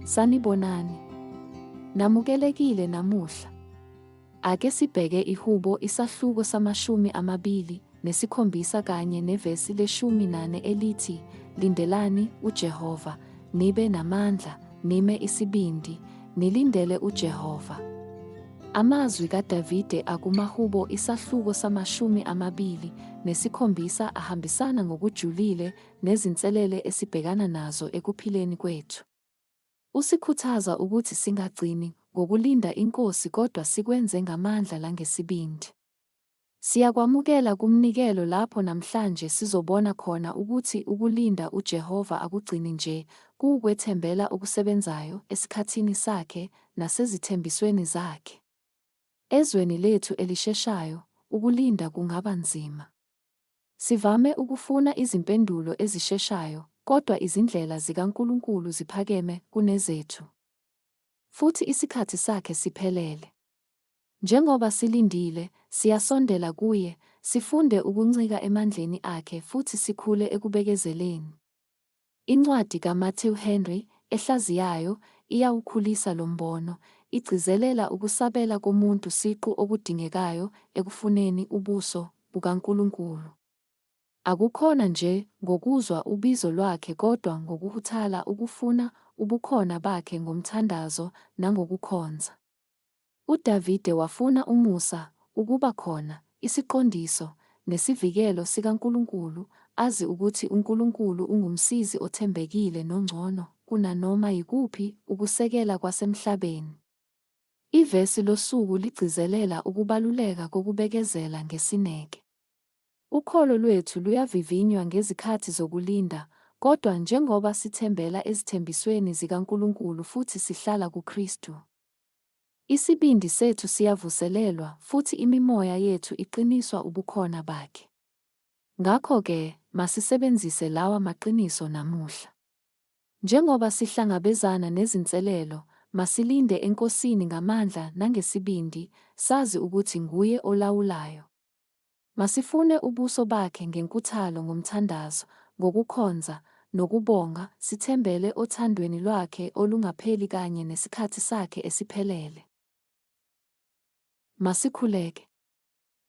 Sanibonani. Namukelekile namuhla. Ake sibheke ihubo isahluko samashumi amabili nesikhombisa kanye nevesi leshumi nane elithi lindelani uJehova nibe namandla nime isibindi nilindele uJehova. Amazwi kaDavide akumahubo isahluko samashumi amabili nesikhombisa ahambisana ngokujulile nezinselele esibhekana nazo ekuphileni kwethu. Usikhuthaza ukuthi singagcini ngokulinda inkosi kodwa sikwenze ngamandla langesibindi. Siyakwamukela kumnikelo lapho namhlanje sizobona khona ukuthi ukulinda uJehova akugcini nje kuwukwethembela okusebenzayo esikhathini sakhe nasezithembisweni zakhe. Ezweni lethu elisheshayo, ukulinda kungaba nzima. Sivame ukufuna izimpendulo ezisheshayo, kodwa izindlela zikaNkulunkulu ziphakeme kunezethu. Futhi isikhathi sakhe siphelele. Njengoba silindile, siyasondela kuye, sifunde ukuncika emandleni akhe futhi sikhule ekubekezeleni. Incwadi kaMatthew Henry ehlaziyayo iyawukhulisa lo mbono, igcizelela ukusabela komuntu siqu okudingekayo ekufuneni ubuso bukaNkulunkulu. Akukhona nje ngokuzwa ubizo lwakhe kodwa ngokuhuthala ukufuna ubukhona bakhe ngomthandazo nangokukhonza. UDavide wafuna umusa, ukuba khona, isiqondiso, nesivikelo sikaNkulunkulu, azi ukuthi uNkulunkulu unguMsizi othembekile nongcono kunanoma yikuphi ukusekela kwasemhlabeni. Ivesi losuku ligcizelela ukubaluleka kokubekezela ngesineke. Ukholo lwethu luyavivinywa ngezikhathi zokulinda, kodwa njengoba sithembela ezithembisweni zikaNkulunkulu futhi sihlala kuKristu, Isibindi sethu siyavuselelwa futhi imimoya yethu iqiniswa ubukhona bakhe. Ngakho-ke, masisebenzise lawa maqiniso namuhla. Njengoba sihlangabezana nezinselelo, masilinde eNkosini ngamandla nangesibindi, sazi ukuthi nguye olawulayo. Masifune ubuso bakhe ngenkuthalo ngomthandazo, ngokukhonza, nokubonga, sithembele othandweni lwakhe olungapheli kanye nesikhathi sakhe esiphelele. Masikhuleke.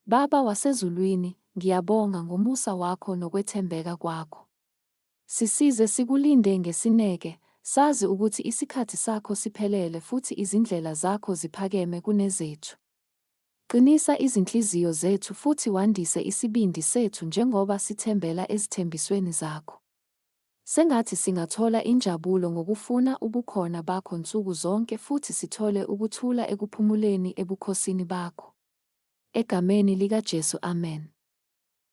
Baba wasezulwini, ngiyabonga ngomusa wakho nokwethembeka kwakho. Sisize sikulinde ngesineke, sazi ukuthi isikhathi sakho siphelele futhi izindlela zakho ziphakeme kunezethu. Qinisa izinhliziyo zethu futhi wandise isibindi sethu njengoba sithembela ezithembisweni zakho. Sengathi singathola injabulo ngokufuna ubukhona bakho nsuku zonke futhi sithole ukuthula ekuphumuleni ebukhosini bakho. Egameni likaJesu, amen.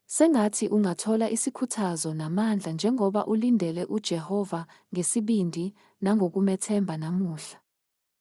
Sengathi ungathola isikhuthazo namandla njengoba ulindele uJehova ngesibindi nangokumethemba namuhla.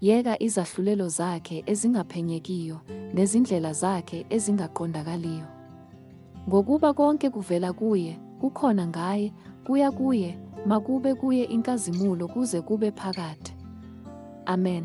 Yeka izahlulelo zakhe ezingaphenyekiyo nezindlela zakhe ezingaqondakaliyo! Ngokuba konke kuvela kuye, kukhona ngaye, kuya kuye, makube kuye inkazimulo kuze kube phakade. Amen.